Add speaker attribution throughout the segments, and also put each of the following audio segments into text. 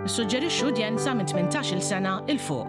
Speaker 1: Suġġerixxu udjenza minn 18-il sena 'il fuq.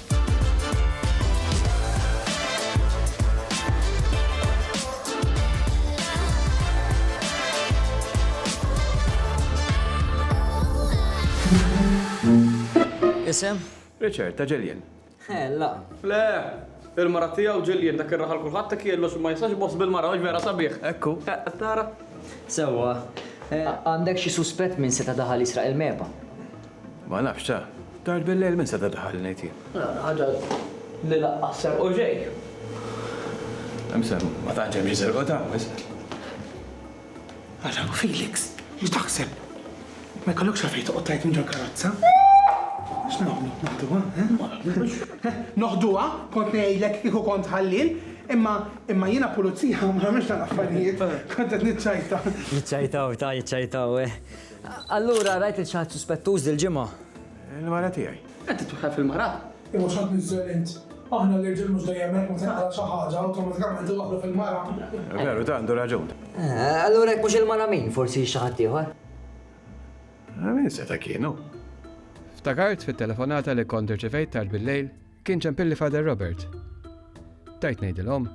Speaker 1: Isem? Richard, ta' Jillian. He, la. Le! Il-mara tiegħu Jillian, dak ir-raħal kulħadd hekk jgħidlu xi ma jistax iboss bil-mara, mhux vera sabiħ? Ekku. Qed tara? Sewwa. Għandek xi suspett min seta' daħal jisraq il-mehba? Ma nafx, ta. Tard bil-lejl min seta' daħal, ngħid jien. Ħaġa li laqqas serqu xejn. Imma ma tantx hemm xi serqu ta' hawn isfel. Ara, Felix, x'taħseb? Ma jkollokx għalfejn toqgħod tgħid minn ġol-karozza. X'nagħmlu, noħduha, eh? Noħduha? Kont ngħidlek kieku kont ħallien, imma imma jiena pulizija u ma nagħmilx tal-affarijiet. Kont qed niċċajta. Jiċċajtaw, ta, jiċċajtaw, eh. Allura rajt lil xi ħadd suspettuż dil-ġimgħa? Il-mara tiegħi. Qed titweħħel fil-mara? Imma x'qed niżżel int? Aħna l-irġiel mhux dejjem hekk, meta naqra xi ħaġa, awtomatikament iwaħħlu fil-mara. Veru, ta' għandu raġun. Allura jekk mhux il-mara min? Forsi xi ħadd ieħor? Min seta' kien hu? Ftakart fit-telefonata li kont irċivejt tard billejl? Kien ċempilli Father Robert. Tajt ngħidilhom.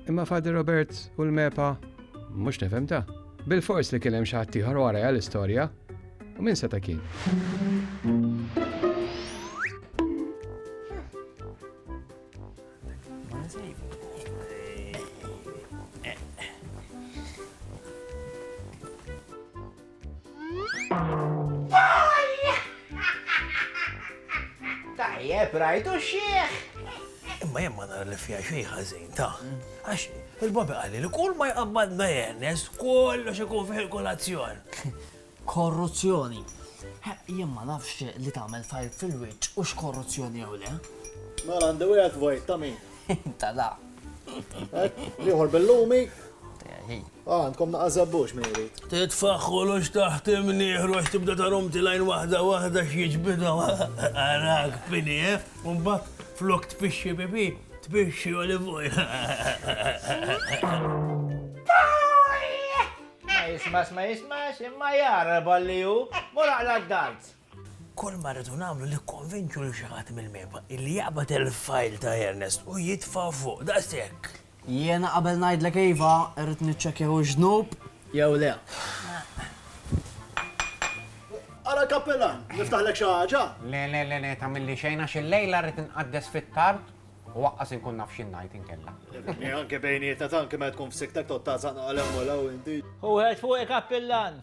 Speaker 1: Imma Father Robert u l-mepa mhux nifhem ta. Bil-fors li kien hemm xi ħadd ieħor wara l-istorja u min seta' kien. Tajjeb, rajtu xieħ! Imma jemma ma nara li fija xej ħażin ta' għax il-babi għalli li kull ma jqabbad ma jennes kollox ikun fih il-kolazzjon. Korruzzjoni. Jien ma nafx li tagħmel fajl fil-wiċċ u x'korruzzjoni jew le. Ma għandi wieħed vojt ta' min? Ta' da. Liħor bil-lumi. Ah, għandkom naqa' żabbux min irid. Titfagħ kollox taħt imnieħru għax tibda tarom tilgħin waħda waħda x'jiġbidhom. Arak pini, eh? U mbagħad flok tpixxi pipi, tpixxi olive oil. Ma jismax, ma jismax, imma jara balli hu, mora għala d-dalt. Kull ma rridu nagħmlu li konvinċu li xi ħadd mill-meba illi jaqbad il-fajl ta' Ernest u jitfa' fuq daqshekk. Jiena qabel ngħidlek iva, irrid niċċekkja hux dnub jew le. Ara l-kappilan, niftaħlek xi ħaġa? Le, le, le, le, tagħmilli xejn għax illejla rrid inqaddes fit-tard u aqqas inkun naf xi ngħid inkella. Anke bejnietna tanki meta tkun f'sikktek tgħodd tagħżaq naqal hemm u 'l hawn inti. Hu ħed fuqi kappilan!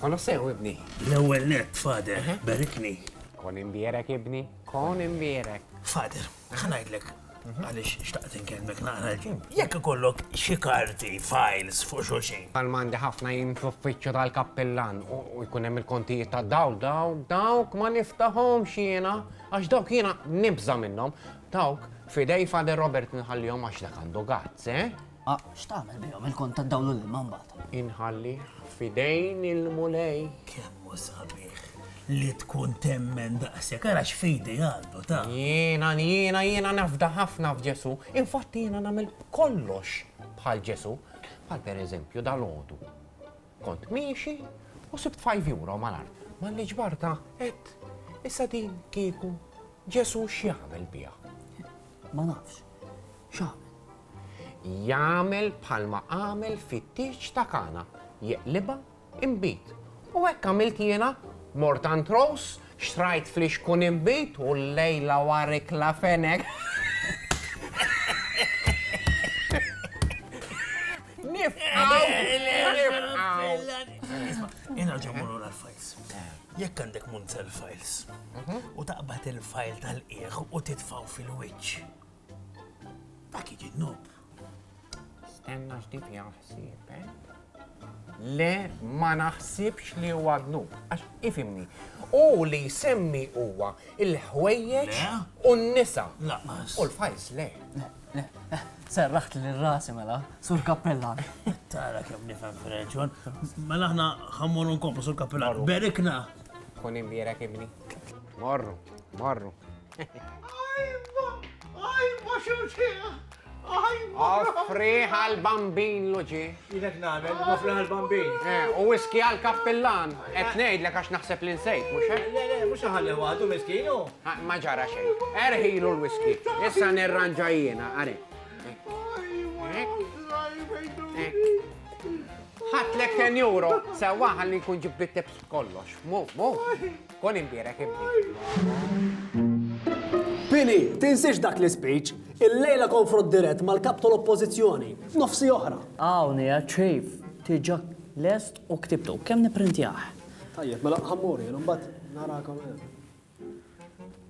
Speaker 1: Konu sew ibni. L-ewwel net, fader, berikni. Kon imbierek ibni, kon imbierek. Fader, ħanajdlek mhm. għalix xtaqt inkellmek naqra l-ġim. Mhm. Jekk ikollok xi karti, files fuq xulxin. Għal-mandi ħafna jim fl-uffiċċju tal-kappillan u jkun hemm il-kontijiet ta' daw, daw, dawk ma niftahom xiena, għax dawk jiena nibża minnhom. Dawk, f'idej Father Robert nħallihom għax dak għandu guts, eh? A, x'tagħmel bihom il-kont tad-dawl u l-ilma mbagħad? Inħallih f'idejn il-Mulej. Kemm hu sabiħ li tkun temmen daqshekk, ara x'fidi għandu ta'. Jiena, jiena, jiena nafda ħafna f'Ġesù, infatti jiena nagħmel kollox bħal Ġesù, bħal pereżempju dal-għodu. Kont miexi u sibt 5 euro mal-art, malli ġbarta qed issa din kieku Ġesù x'jagħmel biha? Ma nafx. X'għamel? Jagħmel bħalma għamel fit-tieġ ta' Kana, jeqlibha inbid. U hekk għamilt jiena, mort għand Rose, xtrajt flixkun inbid u llejla war ikla fenek. Nifqgħu! Nifqgħu! Nirġgħu mmorru l-Alfajs. Jekk għandek munzell files u taqbad il-file tal-qiegħ u titfgħu fil-wiċċ, dak jiġi dnub. Stenna x'dik hija ħsieb, eh? Le ma naħsibx li huwa dnub, għax ifimni. U li jsemmi huwa il-ħwejjeġ u n-nisa. U l-files le. Serraħt li rasi mela, sur kappellan. Tara kem nifem fil-reġjon. Mela ħna ħammur nkomplu sur kappellan. Berikna! Kun imbira kibni. Morru, morru. Ajma, ajma xurċija! Ajma! Offri għal-bambin loġi. Ilek nagħmel, nofraħ il-bambin. Eh, u whisky għal kappillan. Qed ngħidlek għax naħseb li nsejt, mhux hekk? Le, le, mhux ħalli waħdu miskinu. Ma ġara xejn. Erħilu l-whisky. Issa nirranġa jiena, għari. Ħatlek 10 euro, sewwa ħalli nkun ġibbit kollox. Mu, mu. Kun imbierek ibni. Pini, tinsiex dak l-ispeech. Illejla konfront dirett mal-Kap tal-Oppożizzjoni, f'nofsi oħra. Hawn qiegħed Chief, diġà lest u ktibtu. Kemm nipprintjah? Tajjeb, mela ħa mmur jien, imbagħad narakom hemm.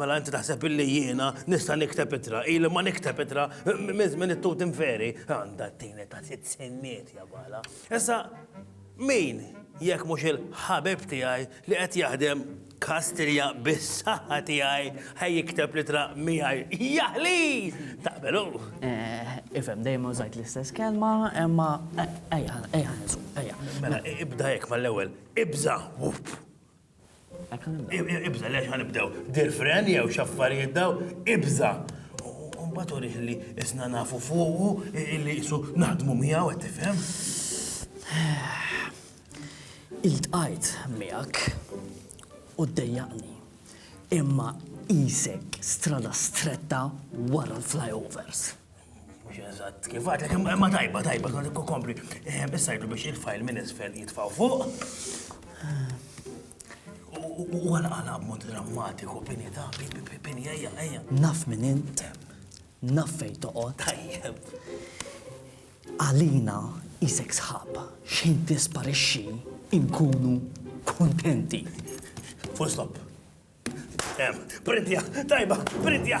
Speaker 1: Mela inti taħseb illi jiena nista' nikteb ittra, ili ma nikteb ittra minn żmien it-tut inferi. Għandha t-tini ta' sitt sinniet ja bala. Issa min jekk mhux il-ħabib tiegħi li qed jaħdem Kastilja bis-saħħa tiegħi ħaj jikteb l-ittra miegħi. Jaħli! Taqbelu? Eh, ifhem dejjem użajt l-istess kelma, imma ejja, ejja nisu, ejja. Mela ibda hekk mal-ewwel, ibża, wup. Ibża' li għax ħa nibdew dir fren jew x'affarijiet dawn, ibża'! U mbagħad urih li isna nafu fuqu, li qisu naħdmu miegħu, qed tifhem? Iltqajt miegħek u ddejjaqni, imma qisek strada stretta wara l-flyovers. Mux eżatt, kif għadlek, ma tajba, tajba, kompli. Eh, issa jgħidu biex il-fajl minn isfel jitfaw fuq. U għala għala mod drammatiku, bini ta' bini, ejja, ejja. Naf minn int, naf fej toqgħod. Tajjeb. Għalina jisek sħab, xejn tisparixxi inkunu kontenti. Full stop. Printja, tajba, printja.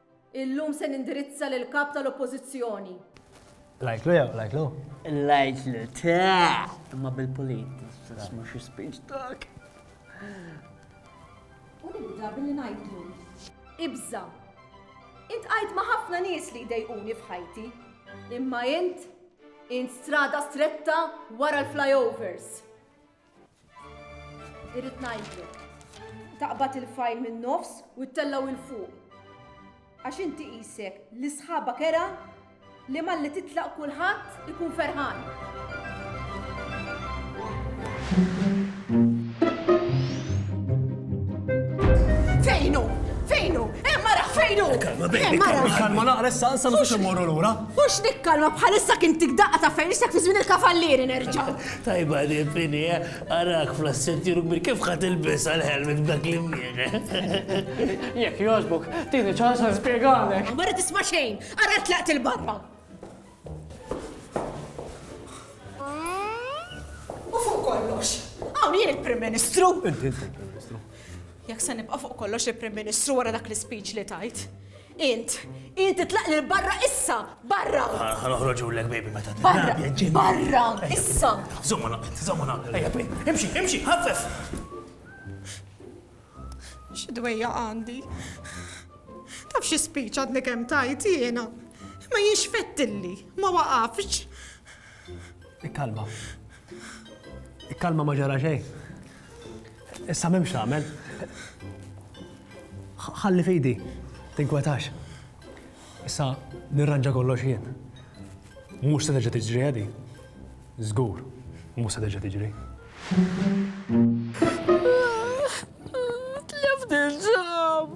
Speaker 1: Illum se nindirizza lill-Kap tal-Oppożizzjoni. L-għidtlu jew l-għidtlu? L-għidtlu, ta' imma bil-pulit, tisma' xi speech dak. U nibda billi ngħidlu. Ibża. Int qajt ma' ħafna nies li jdejquni f'ħajti. Imma int, int strada stretta wara l-flyovers. Irrid ngħidlu. Taqbad il-fajl min-nofs u ttellgħu il fuq. Għax inti qisek li sħabha kera li malli titlaq kulħadd ikun ferħan. Fejnu! Fejnu! Emma raħ fejnu! Kalma bejni, kalma naqra issa nsa mhux immorru lura. Mhux nikkalma bħalissa kien tikdaqqa ta' fejn issa fi żmien il-kavallieri nerġa'. Tajba din Fini, eh? Arak fl-assettiru kbir, kif ħa tilbisha l-helmet b'dak l-imnieħ, eh? Jekk jogħġbok, tini ċans nispjegalek. Ma rrid tisma' xejn, ara tlaqt il-barra. U fuq kollox, hawn jien il-Prim Ministru. Inti il-Prim Ministru. Jekk se nibqa' fuq kollox il-Prim Ministru wara dak l-ispeech li tajt, Int, int itlaq lil barra issa! Barra! Ħa noħroġulek baby meta trid. Barra! Barra! Issa! Żomma naqbet, żomma naqbet. Ejja baby, imxi, imxi, ħaffef! X'dwejja għandi? Taf xi spiċ għadni kemm tajt jiena? Ma jienx fettilli, ma waqafx. Ikkalma. Ikkalma ma ġara xejn. Issa m'hemmx tagħmel. Ħalli fidi, tinkwetax. Issa nirranġa kollox jien. Mhux se terġa' tiġri għadi. Żgur, mhux se terġa' tiġri. Tlift il-ġam!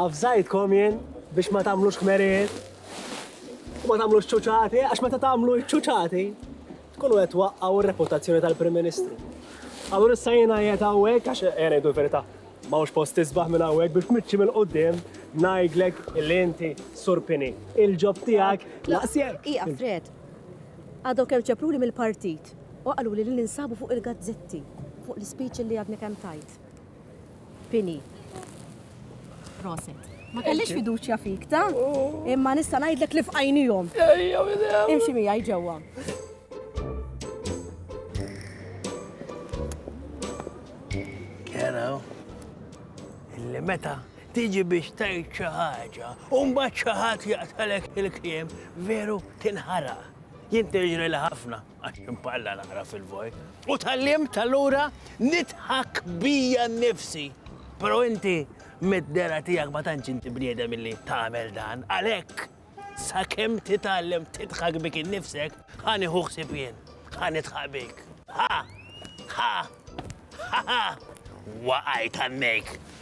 Speaker 1: Avżajtkom jien biex ma tagħmlux kmerijiet u ma tagħmlux ċuċati, għax meta tagħmlu ċuċati, Tkunu qed twaqqgħu r-reputazzjoni tal-Prim Ministru. Allura issa jiena qiegħed hawnhekk għax qiegħed ngħidu l-verità. M'hawnx post tisbaħ minn hawnhekk biex mitxi mill-quddiem ngħidlek li inti surpini. Il-ġob tiegħek laqsjek. Ija Fred, għadhom kemm ċepruli mill-partit u qaluli li ninsabu fuq il-gazzetti fuq l-ispeech li għadni kemm tajt. Pini. Proset. Ma kellix fiduċja fik, ta? Imma nista' ngħidlek li fqajnihom. Imxi miegħi ġewwa. Kera, illi meta tiġi biex tajt xi ħaġa, u mbagħad xi ħadd jaqtalek il-kliem veru tinħaraq. Jien li ħafna. Għax imparla naqra fil-vojt. U tal-limt allura nidħak bija nnifsi. Pero inti mid-dera tiegħek ma tantx inti bniedem illi tagħmel dan. Għalhekk sakemm titgħallem tidħak bik innifsek, ħa nieħu ħsieb jien, ħa nidħaq bik. Ha! Ha! Ha! Waqajt għannejk!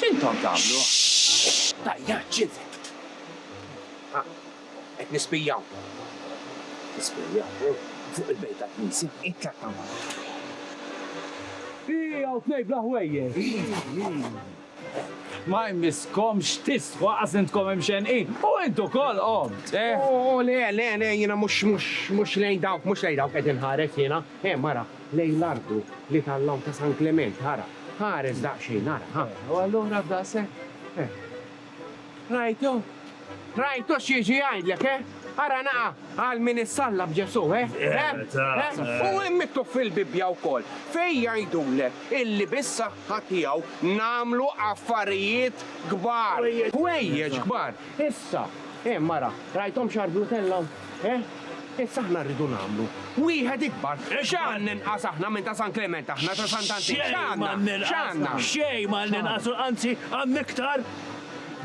Speaker 1: X'intom tagħmlu? Tajja ċivekt! Ah, qed nispijjaw. Tispijjaw? Fuq il-bejt tal-knisja? Itlaq hawn. Hi, hawn tnejn bla ħwejjeġ! Ma jmisskomx tistħu aqas intkom imxenqin! U int ukoll qomt, eh? Oh, le, le, le, jiena mhux, mhux, mhux lejn dawk, mhux lejn dawk qed inħares jiena. Eh, mara, lejn l-arku li tal-lawn ta' San Klement, ara, ħares daqsxejn, ara, ha, u allura f'daqshekk, eh. Rajtu? Rajtu x'jiġi jgħidlek, eh? Ara naqa' għal min issalla b'Ġesù, eh? Eh, eh? U hemm miktub fil-Bibbja wkoll fejn jgħidulek illi bis-saħħa tiegħu nagħmlu affarijiet kbar, ħwejjeġ kbar. Issa, hemm ara, rajthomx għarblutella hawn? Eh? Issa aħna rridu nagħmlu wieħed ikbar. X'għan ninqas aħna minn ta' San Klement aħna ta' Sant Antin? X'għandna? X'għandna? Xejn ma ninqasu, anzi għandna iktar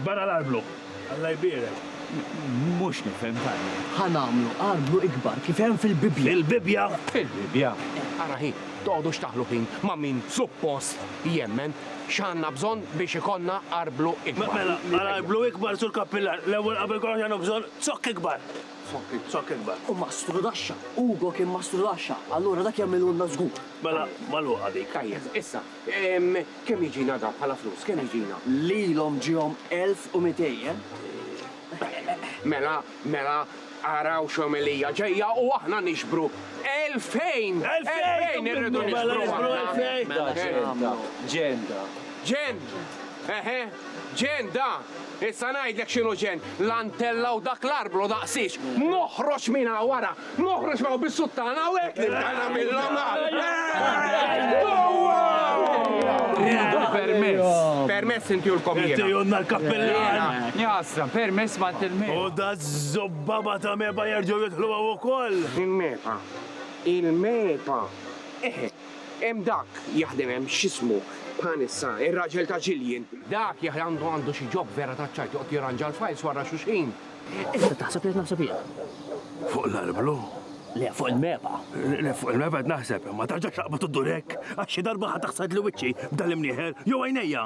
Speaker 1: barra l-arblu. Alla jbierek. Mhux nifhem tajjeb. Ħa nagħmlu arblu ikbar kif hemm fil-Bibbja. Fil-Bibbja? Fil-Bibbja. Ara hi, toqgħodux taħlu ħin ma' min suppost jemmen x'għandna bżonn biex ikollna arblu ikbar. Mela, għal arblu ikbar sur Kappillan, l-ewwel qabel kollox għandna bżonn Zokk ikbar! Zokk ikbar! U mastru Daxxa! Ugo kien mastru Daxxa! Allura dak jagħmilulna żgur! Mela, magħluqa dik. Tajjeb, issa, kemm jiġina dan bħala flus? Kemm jiġina? Lilhom ġiehom elf u mitej, eh? Mela, mela, araw x'omelija ġejja u aħna niġbru elfejn! Elfejn irridu niġbru aħna! Mela, ġenn ta', ġenn ta'. Ġenn! Eħe, ġenn da! Issa ngħidlek x'inhu ġenn, l-antella u dak l-arblu daqsiex! Noħroġ minn hawn, ara! Noħroġ minn hawn bis-suttana u hekk nibda nagħmilhom għall-. Rridu l-permess! Permess intihulkom jiena! Tgħidulna l-kappillan! Jaħasra, permess m'għand il-meba! U daż-żobbaba ta' meba jerġgħu jidħlu hawn ukoll! Il-meba! Il-meba! Eħe! Hemm dak jaħdem hemm, x'ismu, bħan issa, ir-raġel ta' Jillian. Dak jaħ għandu għandu xi job vera taċ-ċajt joqgħod jirranġa l-files warra xulxin. Issa taħseb li qed naħseb jien? Fuq l-arblu? Le, fuq il-mepha. Le, fuq il-mepha qed naħseb, imma tarġax taqbad u ddur hekk, għax xi darba ħa taħsad li wiċċi b'dan l-imnieħer, jew għajnejja!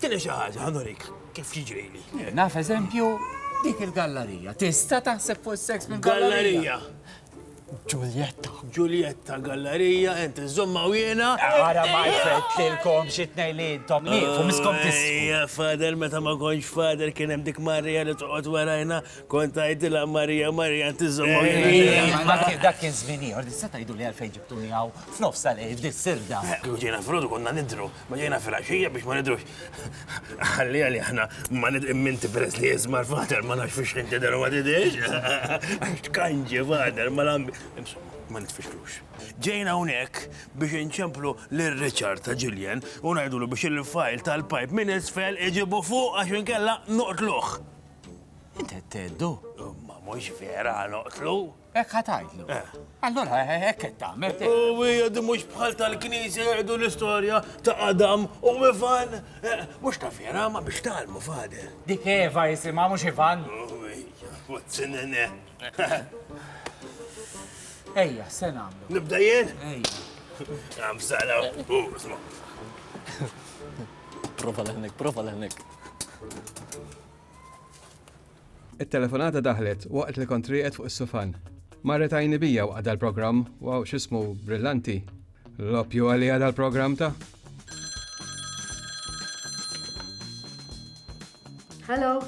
Speaker 1: Tieni xi ħaġa, ħa nurik kif jiġrili. Jien naf eżempju, dik il-gallarija. Tista' taħseb fuq is-seks minn gallarija. Gallarija. Ġuljetta. Ġuljetta, gallarija, enti żomma u jiena. Ara ma jfett lilkom xi tnej li intom nieqfu miskom tisfu. Ejja, fader, meta ma kontx fader kien hemm dik Marija li toqgħod warajna, kont tgħidilha Marija, Marija, inti żomma u jiena. Ma kien dak kien żmien ieħor, tista' tgħiduli għalfejn ġibtuni hawn f'nofs tal-lejl f'dis-sirda. Ħuġiena frodu konna nidhru. Ma ġejna fil-axija biex ma nidrux. Għalli għalli ħna ma nidrim minti peress li jizmar fader ma nax fiex inti dar ma tidrix. Għax tkanġi fader ma lambi. Ma nitfixlux. Ġejna unek biex inċemplu l-Richard ta' Julian u najdulu biex il-fajl tal-pipe minn isfel iġibu fuq għax inkella noqtluħ. Inti teddu? Ma mux vera noqtlu. Hekk ħa tgħidlu. Eh. Allura eh, hekk qed tagħmel. U hija di mhux bħal tal-Knisja jgħidu l-istorja ta' Adam u Ivan. Eh, mhux ta' vera ma biex tagħlmu fader. Dik Eva jisimha mhux Ivan. Zinene. Ejja, se nagħmlu. Nibda jien? Ejja. Għam sala. Prova l-ħnek, prova l-ħnek. It-telefonata daħlet waqt li kont rieqed fuq is-sufan. Marret għajni bija waqt dal-programm, wow x'ismu brillanti. Loppju għalija dal-programm ta'. Hello.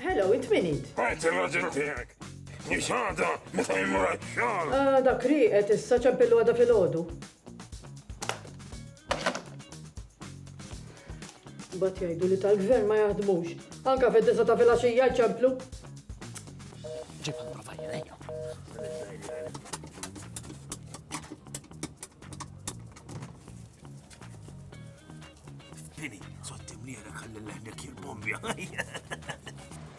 Speaker 1: Hello, int min int? Għajt il-raġel tiegħek. Nixħada meta jmur għax-xogħol. Ah, dak rieqed issa ċempillu għada fil-ħodu. Mbagħad jgħidu li tal-gvern ma jaħdmux. Anka fid-disa ta' filgħaxija jċemplu. Ġibha profajja lejja. Lili, sotti mlira kalli l-ħnek jil-bombja.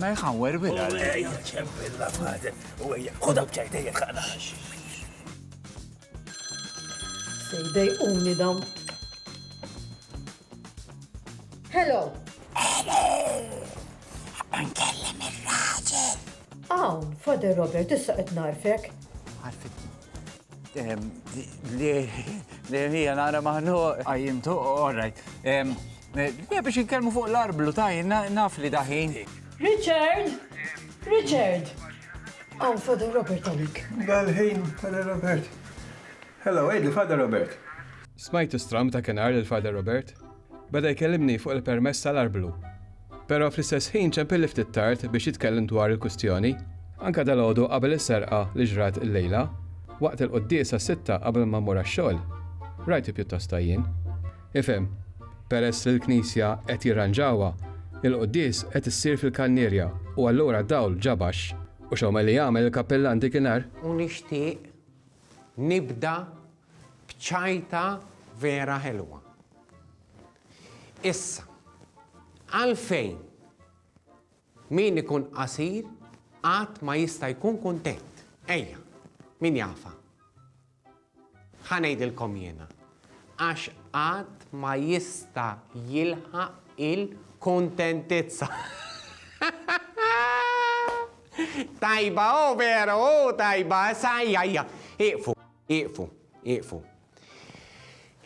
Speaker 1: Ma jħawwer bila. Sejdej umni dawn. Hello. Hello. Nkellem il-raġel. Awn, Father Robert, issa qed narfek. Għarfitni. Li hija nara maħnu għajimtu, all right. Biex jitkellmu fuq l-arblu ta' naf li daħin. Richard! Richard! Għan Father Robert għalik. Għalħin, Father Robert. Hello, għidli Father Robert. Smajtu stram ta' kenar l-Father Robert? Beda jkellimni fuq il-permess tal-arblu. Pero fl-istess ħin ċempilli ftit tard biex jitkellem dwar il-kwistjoni. Anke dalgħodu qabel is-serqa li ġrat illejla, waqt il-quddies għas-sitta qabel ma mmur għax-xogħol, rajtu pjuttost għajjien. Ifhem, peress li l-knisja qed jirranġawha, il-quddies qed issir fil-kannierja u allura d-dawl ġa baxx. U x'għomel li għamel il-kappillan dik in-nhar? U nixtieq nibda Bċajta vera ħelwa. Issa, għalfejn min ikun qasir qatt ma jista' jkun kuntent? Ejja, min jafa? Ħa ngħidilkom jiena. Għax qatt ma jista' jilħaq il-kuntentizza. Tajba, oh vera, oh tajba, issa ejja, ejja, iqfu. Ieqfu, ieqfu.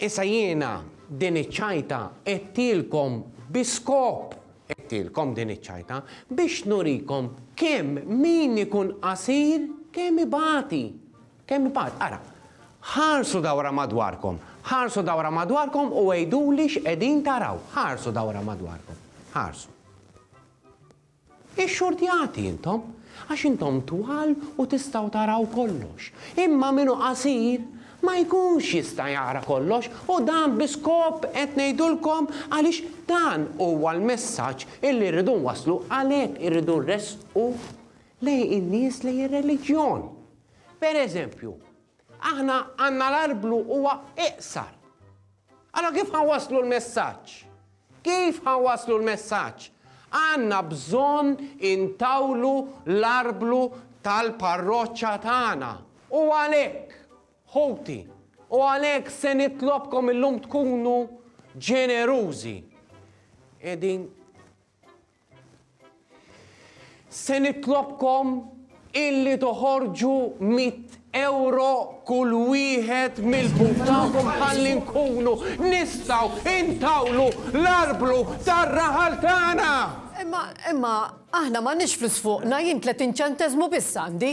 Speaker 1: Issa jiena din iċ-ċajta għedtilkom bi skop, għedtilkom din iċ-ċajta, biex nurikom kemm min ikun qasir kemm ibati, kemm ibati. Ara, ħarsu dawra madwarkom, ħarsu dawra madwarkom u għiduli x'qegħdin taraw. Ħarsu dawra madwarkom, ħarsu. Ixxurtjati intom, għax intom twal u tistgħu taraw kollox, imma min hu qasir ma jkunx jista' jara kollox, u dan bi skop qed ngħidulkom għaliex dan huwa l-messaġġ illi rridu nwasslu, għalhekk irridu nressqu lejn in-nies lejn ir-reliġjon. Per eżempju, aħna għandna l-arblu huwa iqsar. Allura kif ħa nwasslu l-messaġġ? Kif ħa nwasslu l-messaġġ? Għandna bżonn intawlu l-arblu tal-parroċċa tagħna. U għalhekk, ħuti, u għalhekk se nitlobkom illum tkunu ġenerużi. Qegħdin Se nitlobkom illi toħorġu mitt ewro kull wieħed mill-but tagħkom ħalli nkunu nistgħu intawlu l-arblu tar-raħal tagħna! Imma, imma, aħna m'għandniex flus fuqna, jien 30 ċenteżmu biss għandi.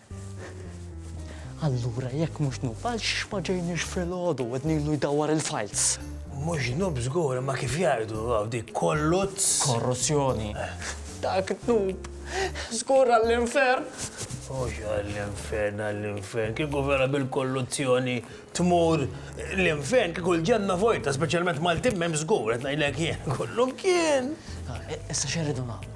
Speaker 1: Allura jekk mhux Noob, għal xiex ma ġejniex filgħodu wednilu jdawwar il-files? Mhux Noob żgur, imma kif jgħidu dik kolluzz? Korruzzjoni. Dak Noob. Żgur għall-infern. Mhux għall-infern, għall-infern. Kieku vera bil-kolluzzjoni tmur l-infern, kieku l-ġenna vojta, speċjalment Maltin m'hemm żgur, qed ngħidlek jien. Kollum kien. Issa x'irridu nagħmlu?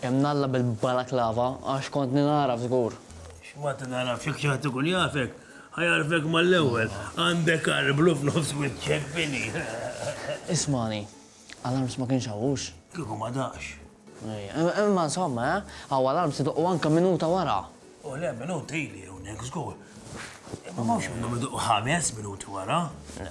Speaker 1: Imnalla bil-balaklava għax kont ningħaraf żgur. X'ma tingħarafx jekk xi ħadd ikun jafek, ħa jagħrfek mal-ewwel. Għandek għar blu f'nofs wiċċek, Vinnie. Ismagħni, alarms ma kienx hawn, hux? Kieku ma daqx. Imma insomma, eh? Hawn alarms idoqqu anke minuta wara. O le, minuta ili hawnhekk żgur. Imma m'hawnx minnhom idoqqu ħames minuti wara. Le.